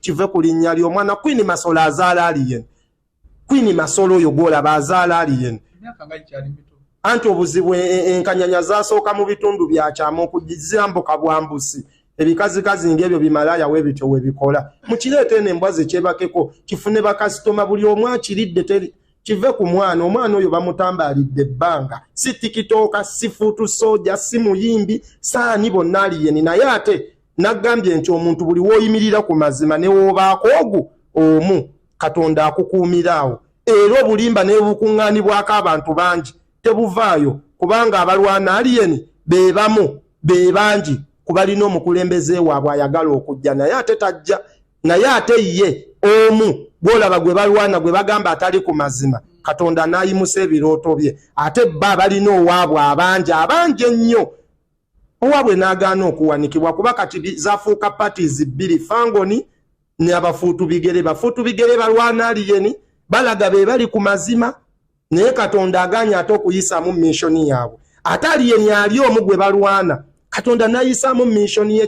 kive ku linnya ly'omwana kwini masolo azaala aliyen kwini masolo oyo gwolaba azaala aliyen anti obuzibu e, e, enkanyanya zasooka mu bitundu byakyama okugizambuka bwambusi ebikazikazi ngaebyo bimalaya webityo webikola mukireeta eno embwa zekyebakeko kifune bakasitoma buli omu akiridde teri kive ku mwana omwana oyo bamutambalidde ebbanga si tikitooka si fuutu soja si muyimbi saani bonna aliyeni naye ate Naggambye nti omuntu buli w'oyimirira ku mazima ne w'obaako ogu omu Katonda akukuumira awo era obulimba n'ebukuŋŋaanibwako abantu bangi tebuvaayo kubanga abalwana aliyeni be bamu be bangi ku balina omukulembeze waabwe ayagala okujja naye ate tajja naye ate ye omu gw'olaba gwe balwana gwe bagamba atali ku mazima Katonda n'ayimusa ebirooto bye ate bba balina owaabwe abangi abangi ennyo owabwe n'agaana okuwanikibwa kuba kati zafuuka parties bbiri fangoni ne abafuutu bigere bafuutu bigere balwana aliyeni balaga be bali ku mazima naye katonda aganye ate okuyisaamu missioni yaabwe ate aliyeni ali omu gwe balwana katonda n'ayisaamu missioni ye